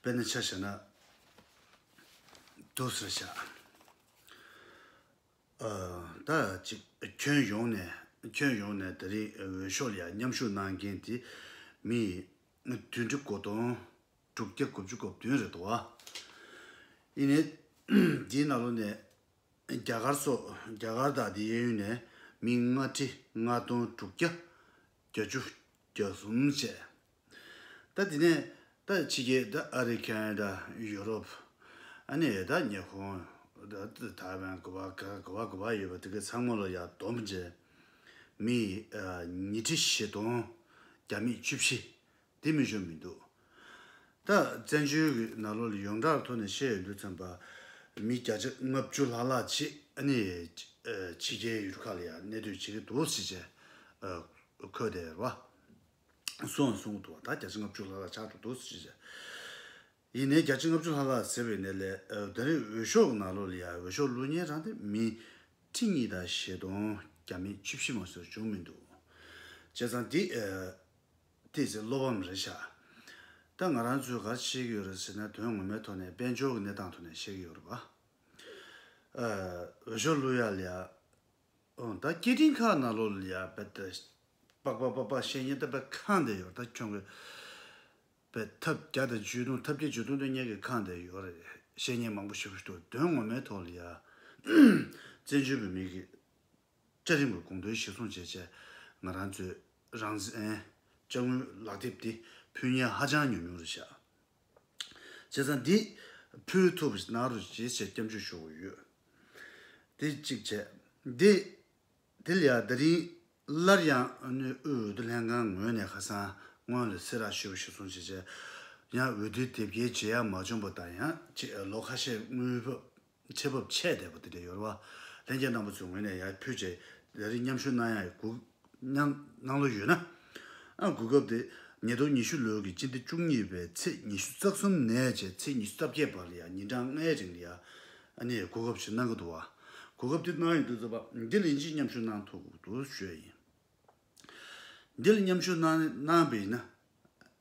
དཔེར་ན་ཆ་བྱས་ན། དུ་ཟེར་བྱ། ད་ཅིག་ཁྱོན་ཡོངས་ནས་ཁྱོན་ཡོངས་ནས་ད་རེས་འོས་ཤོག་ལ་མཉམ་ཞུགས་གནང་མཁན་དེ་མི་བདུན་ཁྲི་གོ་དོན་དྲུག་བརྒྱ་དགུ་བཅུ་གོ་བདུན་རེད་དོ། ཡིན་ནའི་དེའི་ནང་ལོ་ནས་རྒྱ་གར་སོགས་རྒྱ་གར་དང་དེའི་གཡས་གཡོན་ནས་མི་ལྔ་ཁྲི་ལྔ་སྟོང་དྲུག་བརྒྱ་བརྒྱ་བཅུ། བརྒྱ་གསུམ་བཅས། ད་དེ་ནས་ད་ཕྱི་རྒྱལ་ད་ཨ་རི་ཀན་ད་ཡུ་རོབ། ཨ་ནི་ཡ་ད་ཉེ་ཁོང་ད་ཐའི་ཝན་གོ་བ་ག་གོ་བ་གོ་བ་ཡོད་པ་དེ་གི་ཚང་མ་ལ་ཡག་བསྡོམས་བརྒྱད། མི་ཉིས་ཁྲི་བཞི་སྟོང་བརྒྱ་མེད་བཅུ་བཞི། འདི་མི་ཞུ་མི་འདུག། ད་བཙན་བྱོལ་གྱི་ནག་ལོ་ལ་ཡོངས་གྲགས་ཐོག་ནས་བཤད་ཡོད་འདུག་ཚན་པ་མི་བརྒྱ་ཆ་ལྔ་བཅུ་ལྷག་ལྷག་ཅིག་ནི་ཕྱི་རྒྱལ་ཡུལ་ཁག་ལ་ཡང་གནས་སྡོད་བྱེད་ཀྱི་འདུག་ཟེར་བྱས་འཁོད་དེ་ར་སུའང་གསུང་གི་འདུག་བ་ད་བརྒྱ་ཆ་ལྔ་བཅུ་ལྷག་ལྷག་ཆགས་འགྲོ་འདུག་ཟེར་བྱས། ཡིན་ནའི་བརྒྱ་ཆ་ལྔ་བཅུ་ལྷག་ལྷག་ཟེར་བའི་ནས་ལས་ད་རེས་འོས་ཤོག་གི་ནག་ལོ་ལ་ཡང་འོས་ཤོག་བླུག་ཉེན་རང་སྟེ་མི་ཁྲི་གཉིས་དང་ཞེ་སྟོང་བརྒྱ་མེད་བཅུ་བཞི་མ་སོགས་བྱུང་མི་འདུག་བྱས་ཙང་འདི། དེས་ཚེ་སློབ་བམ་རེ་བཞག། ད་ང་རང་ཚོས་ག་རེ་བྱེད་ཀྱི་ཡོད་རེད་ཟེར་ན་དོན་ངོ་མའི་ཐོག་ནས་དཔལ་འབྱོར་གྱི་གནས་སྟངས་ཐོག་ནས་བཤད་ཀྱི་ཡོད་རེད་པཱ། འོས་ཤོག་བླུ་ཡག་ལ་ཡག། ཨོང་ད་སྐད་འཕྲིན་ཁ་ན་ལོ་ལ་ཡག་པད་ད། པག་པག་པག་པག་བཤད་ཉན་ད་པད་ཁང་དེ་ཡོད་རེད་ད་ཁྱོད་གིས། པད་ཐབས་བརྒྱ་དང་བཅུས་སྟོང་ཐབས་བརྒྱད་བཅུས་སྟོང་དོན་གཉེར་གྱི་ཁང་དེ་ཡོད་རེད་བཤད་ཉན་མང་པོ་བྱེད་དགོས་འདུག་དོན་ངོ་མའི་ཐོག་ལ་ཡ། བཙན་བྱོལ་བོད་མིའི་གི། བཀྲ་རིན་པོས་དགོངས་དོན་གཞིར་བཟུང་བྱས་རྗེས་ང་རང་ཚོས་རང་བཙན་བཅའ་དངུལ་ལག་དེབ་འདི་ཕུལ་ཉེན་ཧ་ཅང་ཉུང་ཉུང་རེད་བྱས་ཙང་འདི་ཕུལ་ཐུབ་ན་རུ་ཇི་བྱས་སྐྱབས་འཇུག་ཞུ་དགོས་ཡོད། དེ་གཅིག་བྱས། དེ་དེ་ལ་ཡང་ད་རིང་སླར་ཡང་དབུས་འོས་བསྡུ་ལྷན་ཁང་ངོས་ནས་ཁ་སང་སྔོན་ལ་ཚེ་རག་ཞུས་པ་གཞིར་བཟུང་བྱས་རྗེས་ཡང་འོས་བསྡུའི་དེབ་སྐྱེལ་བྱེད་ཡ་མ་བྱུང་པ་དང་ཡང་ལོ་ཁ་ཤས་དངུལ་བུད་ཆེ་བབ་ཆད་བསྡད་པ་དེ་འདྲ་ཡོད་རེད་བ། ལྷན་རྒྱས་རྣམ་པ་ཚོའི་ངོས་ནས་ཡར་ཕུད་ཆེད་ལས་རིགས་མཉམ་ཞུགས་གནང་ཡག་ཡོད་གུ། གནང་བློ་ཡོད་ན། ཨང་དགོས་སྐབས་དེ་ཉིས་སྟོང་ཉི་ཤུ་ལོའི་གི་སྤྱི་ཟླ་བཅུ་གཉིས་པའི་ཚེས་ཉི་ཤུ་རྩ་གསུམ་ནས་བཅས་ཚེས་ཉི་ཤུ་རྩ་བརྒྱད་བར་ལ་ཡང་ཉིན་གྲངས་ལྔའི་རིང་ལ་ཡར་ཨ་ནི་ཡར་གོ་སྐབས་ཞིག་གནང་གི་འདུག་བ། གོ་སྐབས་དེ་གནང་ཡོད་འདུག་བ། འདི་ལ་ཡིན་གཅིག་མཉམ་ཞུགས་གནང་ཐུབ་འདུག་བྱོས་ཡིན། འདི་ལ་མཉམ་ཞུགས་གནང་པའི་ཡིན་ན།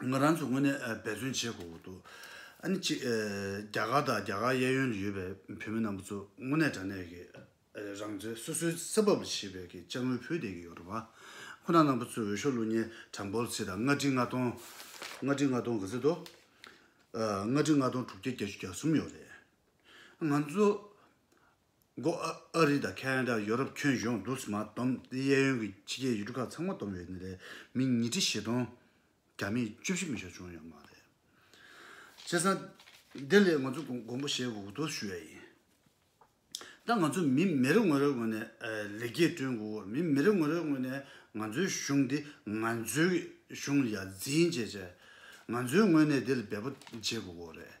ང་རང་ཚོ་དངོས་གནས་འབད་བརྩོན་བྱེད་དགོས་འདུག་ཨ་ནི་གཅིག་རྒྱ་གར་དང་རྒྱ་གར་གཡས་གཡོན་དུ་ཡོད་པའི་བོད་མི་རྣམས་པ་ཚོ་དངོས་གནས་དྲང་གནས་ཀྱི་རང་བཙན་སོ་སོའི་ས་བབ་ལ་བྱེད་པའི་དཔྱ་དངུལ་ཕུལ་བསྡད་ཀྱི་ཡོད་རེད་བ། ཁོ་ན་རྣམས་པ་ཚོས་འོས་ཤོག་ལུགས་གཉིས་གྲངས་འབོར་ཚིག་དང་ལྔ་ཁྲི་ལྔ་སྟོང། ལྔ་ཁྲི་ལྔ་སྟོང་ག་ཚད་དོ། ལྔ་ཁྲི་ལྔ་སྟོང་དྲུག་བརྒྱ་བརྒྱད་ཅུ་གྱ་གསུམ་ཡོད་རེད། ང་ཚོ་མགོ། ཨ་རི་དང་ཁ་ན་ཏྲ་ཡོ་རོབ་ཁྱོན་གཞུང་རྡུལ་མ་སྡོམ་གཡས་གཡོན་གྱི་ཕྱི་རྒྱལ་ཡུལ་གྲུ་ཁག་ཚང་མ་སྡོམ་ཡོད་ནི་ལས་མི་ཉིས་ཁྲི་བཞི་སྟོང། རྒྱ་མི་བཅུ་བཞི་མི་ཤོག་བྱུང་ཡོད་མ་རེད། བྱས་ཙང། འདི་ལས་ང་ཚོ་དགོངས་པ་བཞེས་དགོས་དོགས་ཞུ་ཡ་ཡིན། ད་ང་ཚོ་མི་མི་རེ་ངོ་རེ་ངོས་ནས་ལེགས་སྐྱེས་བསྐྲུན་དགོས་མི་མི་རེ་ངོ་རེ་ངོས་ནས་ང་ཚོའི་གཞུང་འདི་ང་ཚོའི་གཞུང་ཡ་འཛིན་བྱེད་ཆེད་ང་ཚོའི་ངོས་ནས་འདི་ལ་འབད་པ་བྱེད་དགོས་རེད།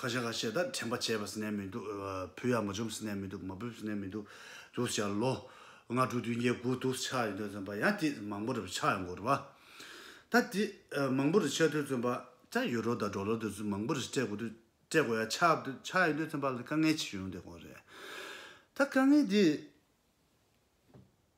ཁ་ཤ་ཁ་ཤས་ད་དྲན་པ་བྱས་པ་ཟིན་ནས་མི་འདུག་བུ་ཡང་མ་འཇོམས་ཟིན་ནས་མི་འདུག་མ་འབུད་ཟིན་ནས་མི་འདུག་དུས་ཆགས་ལོ་ང་དྲུག་བདུན་བརྒྱད་དགུ་དུས་ཆགས་ཡོད་དོན་བརྩོན་པ་ཡང་དེ་མང་པོ་རེ་བ་ཆགས་ཡོང་གོ་རེ་བ། ད་དེ་མང་པོ་རེ་ཆགས་དུས་བརྩོན་པ་ཅག་ཡོད་རོགས་དང་འགྲོ་ལོ་དེ་ཚོས་མང་པོ་རེ་སྤྲད་གོ་དུས་སྤྲད་གོ་ཡང་ཆགས་དུས་ཆགས་ཡོད་དོན་བརྩོན་པ་ལ་དཀའ་ངལ་ཆེ་ཡོང་བསྡད་གོ་རེ། ད་དཀའ་ངལ་དེ།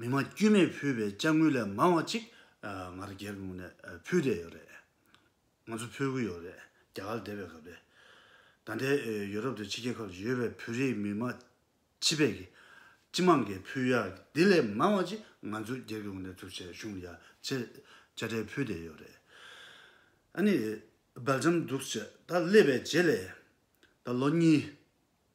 མི་མང་དཀྱུས་མས་ཕུལ་བའི་དཔྱ་དངུལ་ལས་མང་བ་གཅིག་ང་རྒྱལ་དངོས་ནས་ཕུལ་བསྡད་ཡོད་རེད། ང་ཚོ་ཕུལ་གྱི་ཡོད་རེད་རྒྱ་གར་སྡེ་བའི་སྐབས་རེད། ད་ལྟའི་ཡུ་རོབ་དུ་ཕྱི་རྒྱལ་ཁག་ཏུ་ཡོད་པའི་བོད་རིགས་མི་མང་སྤྱི་ཕལ་གྱི་སྤྱི་མང་གིས་ཕུལ་ཡག་འདི་ལས་མང་བ་གཅིག་ང་ཚོ་རྒྱལ་དངོས་ནས་གཙུག་ཆེ་ཞུང་ཡག་ཆེ་དཔྱ་ཁྲལ་ཕུལ་བསྡད་ཡོད་རེད། ཨ་ནི་རྦ་རྗམ་འདུག་བྱས་ད་སླེབས་པའི་རྗེས་ལས་ད་ལོ་གཉིས།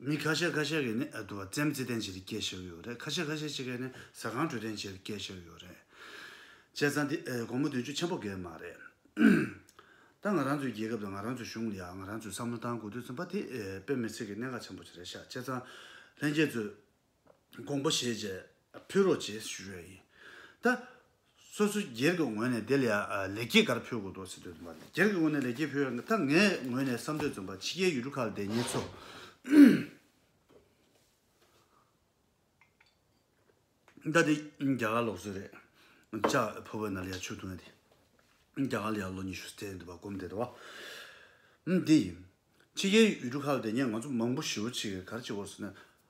མི་ཁ་ཤས་ཁ་ཤས་ཀྱིས་ནི་བཙན་བརྩི་ལྡན་བྱེད་དེ་སྐྱེལ་བཞག་ཡོད་རེད་ཁ་ཤས་ཁ་ཤས་ཅིག་གིས་ནི་ཟ་ཁང་གྲོས་ལྡན་བྱེད་དེ་སྐྱེལ་བཞག་ཡོད་རེད། བྱས་ཙང་འདི་དགོང་མོ་བདུན་ཅུ་ཆེན་པོ་འགལ་མ་རེད། ད་ང་རང་ཚོའི་རྒྱལ་ཁབ་དང་ང་རང་ཚོའི་གཞུང་ལ་ཡང་ང་རང་ཚོས་བསམ་བློ་བཏང་དགོས་དུས་ཚོད་འབའ་དེ་དཔེ་མི་ཚིག་གི་གནད་འགག་ཆེན་པོ་ཞིག་རེད་ཤག་བྱས་ཙང་ལྷན་རྒྱས་ཚོས་དགོངས་པ་བཞེས་རྗེས་ཕུལ་རོགས་ཅེས་ཞུ་ཡས་ཡིན། ད་སོ་སོའི་སྒེར་གྱི་ངོས་ནས་དེ་ལ་ལེགས་སྐྱེས་ག་རེ་ཕུལ་དགོས་འདུག་ཟེར་འདོད་འདུག་མ་སྒེར་གྱི་ངོས་ནས་ལེགས་སྐྱེས་ཕུལ་ཡས་ད་ངའི་ངོས་ནས་བསམ་འདོད་བརྩོན་པ་ཕྱི་རྒྱལ་ཡུལ་གྲུ་ཁག་ལ་བསྡད་ཉེ་ཚོ། ད་དེ་རྒྱ་གར་ལོག་སྲོལ་རེད། ལྕགས་ཕོ་བའི་ནལ་ཡ་ཆུ་བཏུང་ཡས་དེ། རྒྱ་གར་ལ་ཡང་ལོ་ཉི་ཤུ་ཟད་འདུག་པ་སྒོམ་བསྡད་འདུག་བ། འདི་ཡིན། ཕྱི་རྒྱལ་ཡུལ་གྲུ་ཁག་ལ་བསྡད་ཉེ་ང་ཚོ་མང་པོ་ཞེ་བོ་ཆེ་གེ་གར་གྱི་བོར་སོང་ནས།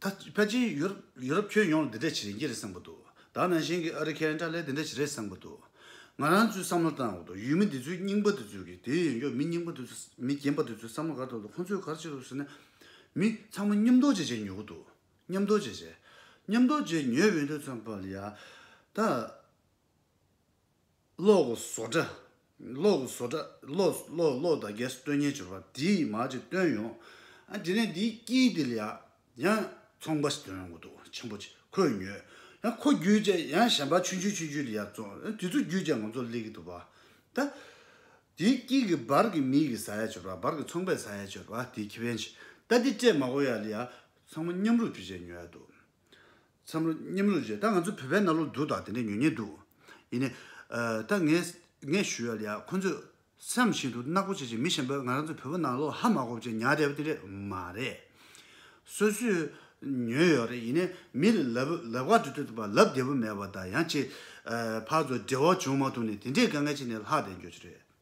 ཕལ་ཆེར་ཡུ་རོབ་ཁྱོན་ཡོངས་ལ་འདི་འདྲས་བྱེད་རན་གྱི་རེད་བསམ་གི་འདུག་ད་ནང་བཞིན་གྱི་ཨ་རི་ཁན་ཏྲ་ལས་འདི་འདྲས་བྱེད་རན་བསམ་གི་འདུག་ང་རང་ཚོའི་བསམ་བློ་བཏང་འོག་ཏུ་ཡུལ་མི་འདི་ཚོའི་རྙིང་པ་འདི་ཚོའི་གི་དེའི་ཡོན་ཀྱོག་མི་རྙིང་པ་འདི་ཚོ་མི་རྒན་པ་འདི་ཚོའི་བསམ་བློ་གར་ཐོབ་འདུག་ཁོང་ཚོས་གར་བྱེད་འདུག་ཟེར་ན། མི་ཚང་མ་མཉམ་རྡོ་རྗེ་བྱས་ཉོ་གི་འདུག་མཉམ་རྡོ་རྗེ་བྱས། མཉམ་རྡོ་རྗེ་ཉོས་བས་འདོད་ཚོད་པ་ལ་ཡ། ད། གློག་གི་བཟོ་གྲྭ། གློག་གི་བཟོ་གྲྭ། གློག་གློག་གློག་དང་གས་སུ་སྟོད་ཉལ་བྱོས་པ་དེའི་མ་ཅིག་བཏོན་ཡོང། ཨ་དེ་ནས་དེའི་དཀྱིལ་དེ་ལ་ཡང་ཡང་ཚོང་པ་ཞིག་བཏོན་ཡོང་གི་འདུག་ཆེན་པོ་ཅིག་ཁོས་ཉོས། ཡང་ཁོ་བརྒྱུད་རྗེས་ཡང་གཞན་པ་ཆུན་ཆུན་ཆུན་ཆུན་ཡར་ཙོང་ཨ་དེ་ཚོ་བརྒྱུད་རྗེས་ང་ཚོ་སླེབས་ཀྱི་འདུག་བ། ད། དེའི་དཀྱིལ་གྱི་སྦར་གྱི་མིག་གི་ཟ་ཡ་བྱོས་པ་སྦར་གྱི་ཚོང་པས་ཟ་ཡ་བྱོས་པ་དེའི་ཁེ་ཕན་ཅིག་ད་དེ་སྤྲད་མ་གོ་ཡ་ལི་ཡ་ཚང་མ་མཉམ་རུབ་བྱོས་རྗེས་ཉོས་ཡ་འདུག། མཚམས་རོ་སྙེམས་རོ་བྱེད་ད་ང་ཚོ་བོད་པའི་གནའ་ལུགས་འདུག་ད་དེ་འདྲ་ཉོན་ཉེ་འདུག་ཡིན་ནའི། ད་ངས་ངས་ཞུ་ཡ་ལ་ཡ་ཁོ་ཚོས་སེམས་བཞིན་དུ་གནག་པོ་བྱེད་ཅིག་མི་གཞན་པའི་ང་རང་ཚོ་བོད་པོ་ནང་ལོག་ཧ་མ་གོ་བྱེད་ཉག་དེ་བ་དེ་རེད་མ་རེད། སོ་སོས་ཉོན་ཡོད་རེད་ཡིན་ནའི་མི་ལ་ལབ་ལབ་ག་དུས་དུས་པ་ལབ་བདེ་པོ་མེད་པ་ད་ཡང་ཅི། ཕར་ཚོ་འབྲེལ་བ་བྱུང་མ་ཐུབ་ནས་དེ་འདྲའི་དགའ་ངལ་བྱེད་ནས་ལྷག་བསྡད་འགྱོ་ཆེ་རེད།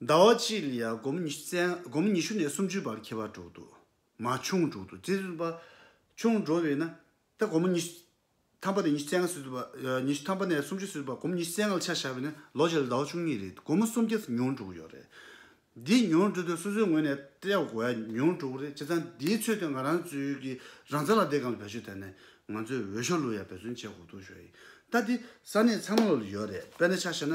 ཟླ་བ་གཅིག་ལ་ཡང་སྒོམ་ཉི་ཤུ་བཙལ་སྒོམ་ཉི་ཤུ་ནས་སུམ་ཅུའི་བར་ཁྱད་པར་འགྲོ་འདུག་མ་ཆུང་འགྲོ་འདུག་ཅེས་པ། ཆུང་འགྲོ་བས་ན། ད་སྒོམ་ཉི་ཤུ་ཐམ་པ་ནས་ཉི་ཤུ་བཙལ་སྔ་སོས་ཟླ་བ་ཉི་ཤུ་ཐམ་པ་ནས་སུམ་ཅུ་སོས་ཟླ་བ་སྒོམ་ཉི་ཤུ་བཙལ་སྔ་ལ་ཆ་བཞག་པས་ན་ལོ་བརྒྱ་ལ་ཟླ་བ་བཅུ་གཉིས་རེད་འདུག་སྒོར་མོ་སུམ་བརྒྱ་ཙམ་ཉུང་འགྲོ་གི་ཡོད་རེད། འདི་ཉུང་འགྲོ་དུས་སོ་སོའི་ངོས་ནས་བལྟས་པ་གོ་ཡ་ཉུང་འགྲོ་གི་རེད་བྱས་ཙང་འདིའི་ཚོད་དུ་ང་རང་ཚོའི་གི་རང་བཙན་ལ་བསྡད་གང་ལ་བེད་སྤྱོད་བསྡད་ནས་ང་ཚོའི་འོས་ཤོག་ལུས་ཡ་བེད་བརྩོན་བྱས་གོ་ཐུག་ཤོག་ཡིན་ད་འདི་ས་གནས་ཚང་མ་ལ་ཡོད་རེད་དཔེར་ན་ཆ་བཞག་ན།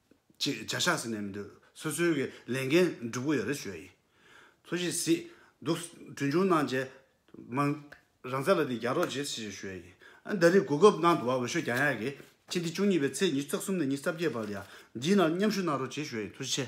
ཅེས་བྱ་ཤ་ཟེར་ནས་མི་འདོད་སོ་སོའི་གི་ལས་འགན་བསྒྲུབ་གི་ཡོད་རེད་ཞོའི་ཡིན་ཚོ་ཞིག་སྲིད་འདུག་གྲོན་ཆུང་གནང་རྗེས་མ་རང་བཙན་ལ་དེ་རྒྱག་རོགས་བྱེད་ཞེས་ཞོའི་ཡིན་ཨ་ཟླ་རེའི་གོ་སྐབས་གནང་འདུག་བ་འོས་ཤོས་རྒྱ་ཡག་གི་ཕྱི་འདི་བཅུ་གཉིས་པའི་ཚེས་ཉིས་བརྩེགས་གསུམ་ནས་ཉིས་བརྩ་བརྒྱད་བར་ཡང་འདིའི་ནང་མཉམ་ཞུགས་གནང་རོགས་བྱེད་ཞོའི་ཡིན་ཚོ་ཞིག་ཆེ།